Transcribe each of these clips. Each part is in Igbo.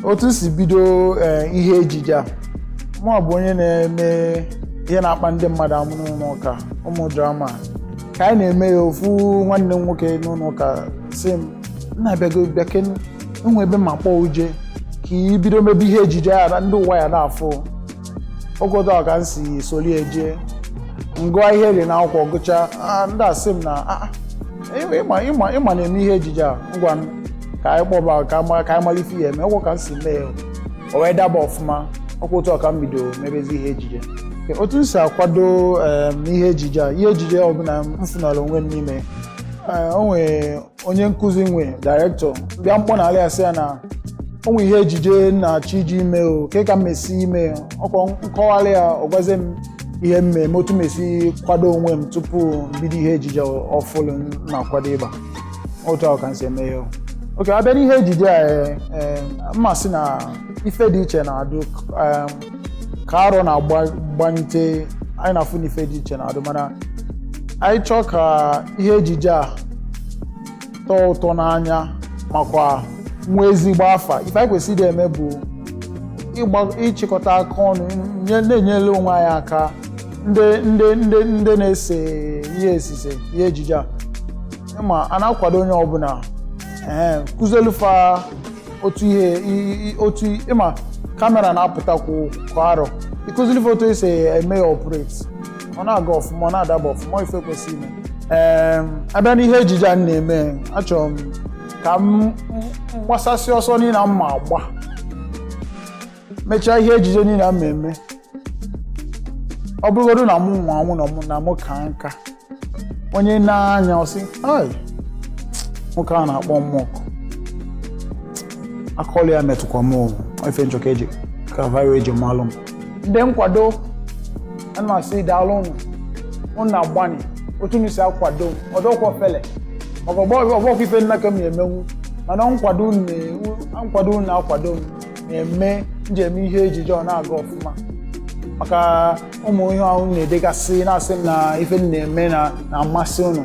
otu si bido ee, ihe ejije a mụ bụ onye na-eme ihe na-akpa ndị mmadụ amụ n'ụlọ ụka ụmụ drama ka anyị na-eme ya ofu nwanne m nwoke n'ụlọ ụka sị m nna bịago bịakene e nwe ebe m ma-akpọ ụ je ka i bido mebe ihe ejije ya na ndị ụwa ya na-afụ ọkwa otu a ka m si solie je m gụọ ihe dị n'akwụkwọ gụchaa ah, ndị a sị m na "Ah, ah, ị- ịma ịma ịma na-eme ihe ejije a ngwa m ka anyị kpọba ka anyị ma- ka anyị mara ife ọ ya-eme ọkwa ka m si mee ya. o wee daba ọfụma ọkwa otu a ka m bido mebezi ihe ejije Nke otu m si akwado em, ihe ejije a ihe ejije ọbụla m fụnara onwe m n'ime eh, o nwere onye nkụzi nwe dairektọ m bịa m kpọ na ala ya sị ya na o nwe ihe ejije m na-achọ ije ime o kee ka m ma-esi eme ọkwa m kọwaara ya ọ gwazie m ihe m ma-eme otu m ma-esi kwado onwe m tupu m bido ihe ejije ọfụlụ m na-akwado ịgba otu ahụ ka m si eme ya oke a bịa n'ihe ejije a m ma-asị na ife dị iche na-adụ ka arọ na-agbanyite anyị na-afụ na ife dị iche na-adụ mana anyị chọọ ka ihe ejije a tọọ ụtọ n'anya makwa nwee ezigbo afa ife anyị kwesịrị eme bụ ịchịkọta aka ọnụ na-enyere onwe anyị aka ndị ndị ndị ndị na-ese ihe e si ese ihe ejije a ma a na-akwado onye ọbụla e kụzielụ fa otu ihe otu ị ma kamera na-apụtakwu kwa arọ ị kụziiri fa otu esi eme ya operate ọ na-aga ọfụma ọ na-adaba ọfụma ife kwesịrị ime ee a bịa n'ihe ejije a m na-eme achọrọ m ka m gbasasị ọsọ niile m ma-agba mechaa ihe ejije niile m ma-eme ọ bụrụgodu na mụ nwa anwụ na mụ na mụ ka nka onye na-anya ọ sị "Ai, nwoke a na-akpọ mmụọ akọlụ ya metụkwa m ọ bụ ife m chọ ka e ji ka fa ya-eji malụ m ndị nkwado ana m asị daalụnụ ụnụ na-agbanị otu unu si akwado m ọ dọkwa ofele maka ọ bụrọ ife niile ka m na-emenwu mana nkwado unu na- nkwado unu na-akwado m na-eme njem ihe ejije ọ na-aga ọfụma maka ụmụ ihe ahụ na-edegasị na-asị m na ife m na-eme na-amasị ụnụ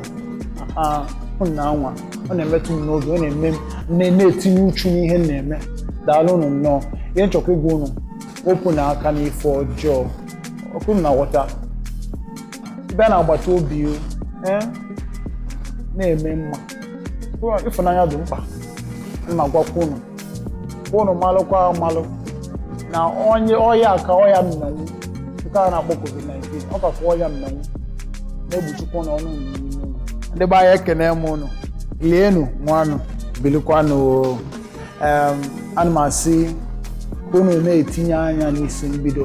ụnụ na-anwa ọ na-emetụ m n'obi ọ na-eme m na-etinye uchu n'ihe m na-eme daalụnụ nnọọ ihe m chọkwa ịgwa ụnụ wepụnụ aka n'ife ọjọọ ọkwa ụnụ na-aghọta bịa na agbata obi eh, na-eme mma ịfụnanya dị mkpa m na-agwakwa ụnụ ụnụ malụkwa amalụ na ọya ka ọya mmenwu nke a na-akpọ covid-19 ọ kakwa ọya mmenwu na-egbuchikwa ụnụ ọnụ ndị be anyị ekene m ụnụ lienụ ṅụanụ bilikwanụ em ana m asị ka ụnụ na-etinye anya n'isi mbido